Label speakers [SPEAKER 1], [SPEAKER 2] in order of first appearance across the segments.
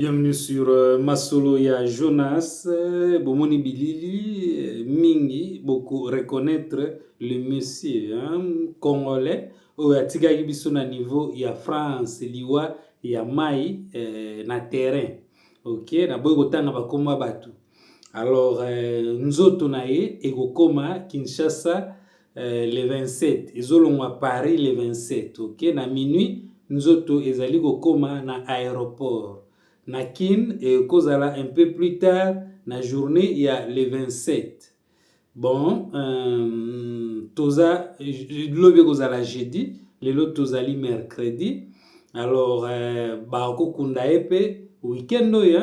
[SPEAKER 1] Bienvenue sur euh, Masolo ya Jonas. Euh, bomoni bilili euh, mingi boko reconnaître le monsieur hein, congolais oyo atikaki biso na niveau ya France liwa ya mai eh, na terrain. OK, naboyi kotanga bakoma bato. Alors eh, nzoto na ye ekokoma Kinshasa eh, le 27 ezolongwa paris le 27 ok na minuit nzoto ezali kokoma na aéroport na kin ekozala un peu plus tard na journée ya le 27 bon euh, toza lobi ekozala jeudi lelo tozali mercredi alors euh, bakokunda ye mpe weekend oyo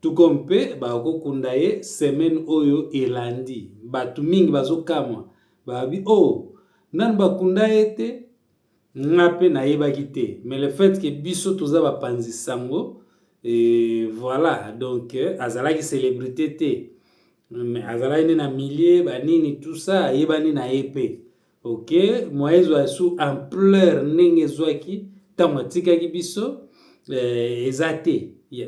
[SPEAKER 1] Tuko mpe bakokunda ye semaine oyo elandi. Batu mingi bazokamwa babi oh nanu bakunda ye te nga mpe nayebaki te mais le fait que biso toza bapanzi sango et voilà donc azalaki celebrite te mais azalaki nde na milieu banini tout ça ayebani na ye mpe Ok, moyen ezwa sous ampleur ndenge ezwaki ntango atikaki biso eh, eza te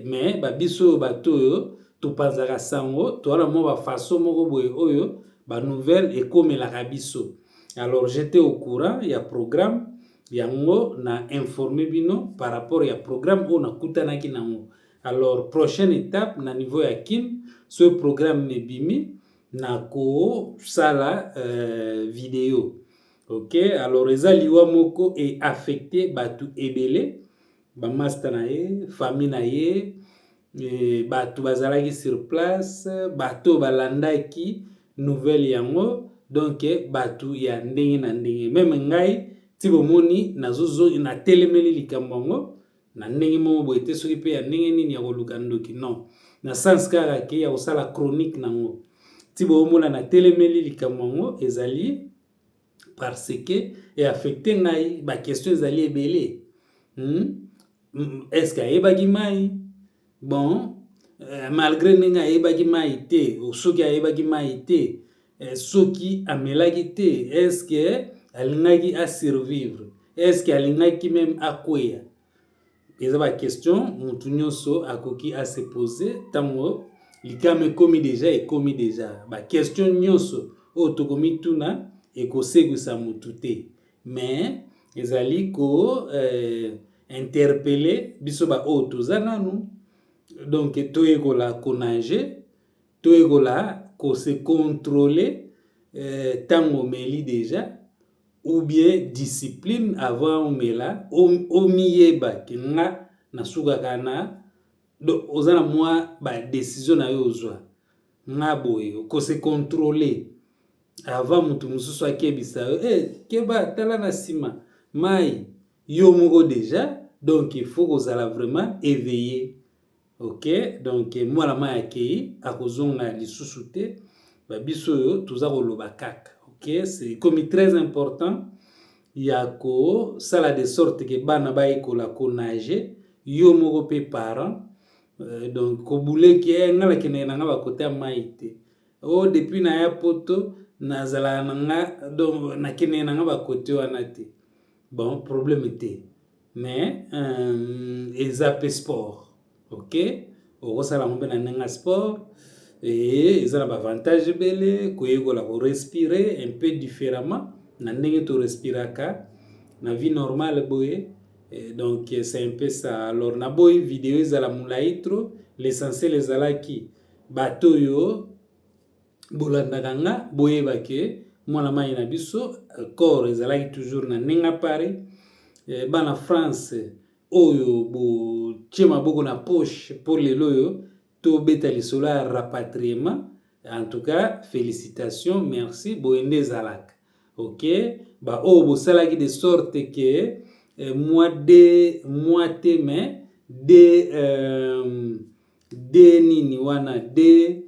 [SPEAKER 1] mais babiso oyo bato oyo topanzaka sango toala mwa bafaso moko boye oyo banouvelle ekomelaka biso alors j'étais au courant ya programme yango na informe bino par rapport ya programme oyo nakutanaki nango alors prochaine étape na niveau ya kin ce programme ebimi nako sala euh, video ok alors eza liwa moko e affecte batu ebele bamasta na ye famille na ye e, bato bazalaki sur place bato balandaki nouvelle yango donc bato ya ndenge na ndenge meme ngai ti bomoni nazozongi natelemeli likambo yango na ndenge moko boye te soki mpe ya ndenge nini ya koluka ndoki non na sens kaka ke ya kosala chronique nango ti boomona na telemeli likambo yango ezali parce que eaffecte ngai baquestion ezali ebele hmm? est ce que ayebaki mai bon euh, malgré ndenge ayebaki mai te soki ayebaki mai te euh, soki amelaki te eske alingaki asurvivre eske alingaki meme akweya eza baquestion motu nyonso akoki ase pose ntango likama ekomi deja ekomi deja baquestion nyonso oyo tokomituna ekosekwisa motu te mais ezali ko euh, interpelle biso ba oyo toza nanu donc toyekola konage toyekola ko se controle ntango euh, omeli deja ou bien discipline avant omela omiyeba ke nga nasukaka na donc oza na mwa badesizio na yo ozwa nga boye ko se controle Avant mutu mususu akebisa yo, eh keba tala na sima. Mai yo moko deja donc il faut kozala vraiment éveillé. OK? Donc mwana mai akei akozonga lisusu te. Ba biso oyo toza koloba kaka. OK? C'est comme très important ya kosala de sorte que bana bayekola konager yo moko mpe parent euh, donc kobule ke eh, ngai nakendeke na ngai bakota mai te Oh depuis na ya poto na zalaka na nga donc na kendeke na nga ba cote wana te bon problème te mais euh, eza pe sport ok okosala yango mpe na ndenge ya sport et eza na bavantage ebele koyekola korespire un peu différemment na ndenge torespiraka na vie normale boye eh, donc c'est un peu ça alors naboyi video ezala molai trop l'essentiel ezalaki Bato oyo bolandaka nga boyeba ke mwana mayi na biso corps ezalaki toujours na Nenga Paris. Eh, bana France oyo botie maboko na poche mpo lelo oyo tobeta lisolo ya rapatriement en tout cas félicitation merci boye nde ezalaka ok baoyo oh, bosalaki de sorte ke eh, mwa de mwa te mais de euh, de nini wana de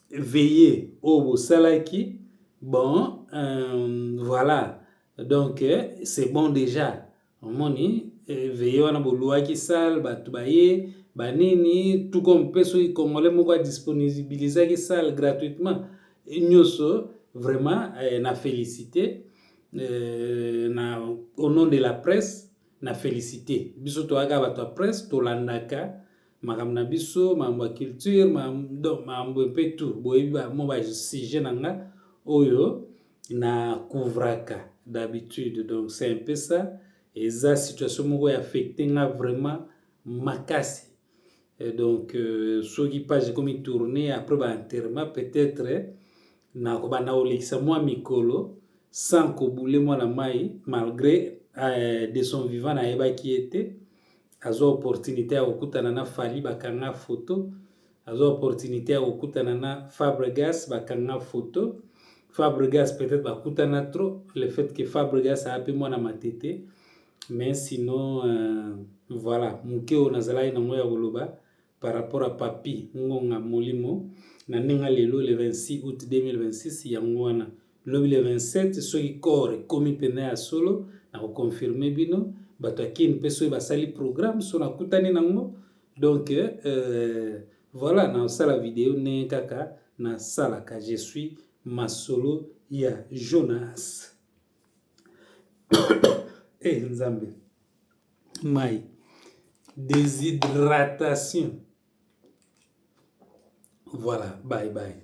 [SPEAKER 1] veye oyo bosalaki bon euh, voilà donc euh, c'est bon déjà omoni euh, veye wana boluaki sale bato baye banini tout comme mpe soki congolais moko adisponibilisaki sale gratuitement nyonso vraiment euh, na félicité euh, na au nom de la presse na félicité biso toyaka bato ya presse tolandaka makambo na biso makambo ya culture makambo mpe tout boyebi bamo ba sujet na nga oyo na couvraka d'habitude donc c'est un peu ça eza situation moko ya affecte nga vraiment makasi Et donc euh, soki page ekomi tourne après ba enterrement peut-être Na kobanda kolekisa mua mikolo sans ko bouler mwana mayi malgre eh, de son vivant nayebaki ye te. Azwa opportunite ya kokutana na Fally bakanga photo. Azwa opportunite ya kokutana na Fabregas bakanga photo. Fabregas peut-être bakutana trop le fait que Fabregas ape mwana matete mais sinon euh, voilà moke oyo nazalaki nango ya koloba par rapport à Papy Ngonga Molimo na ndenge ya lelo le 26 aout 2026 yango wana lobi le 27 soki corps ekomi mpenza ya solo na koconfirme bino bato ya kin mpe soki basali programme so nakutani nango donc euh, voilà nasala video ndenge kaka nasalaka je suis masolo ya jonas e eh, hey, nzambe mai deshydratation voilà bye bye.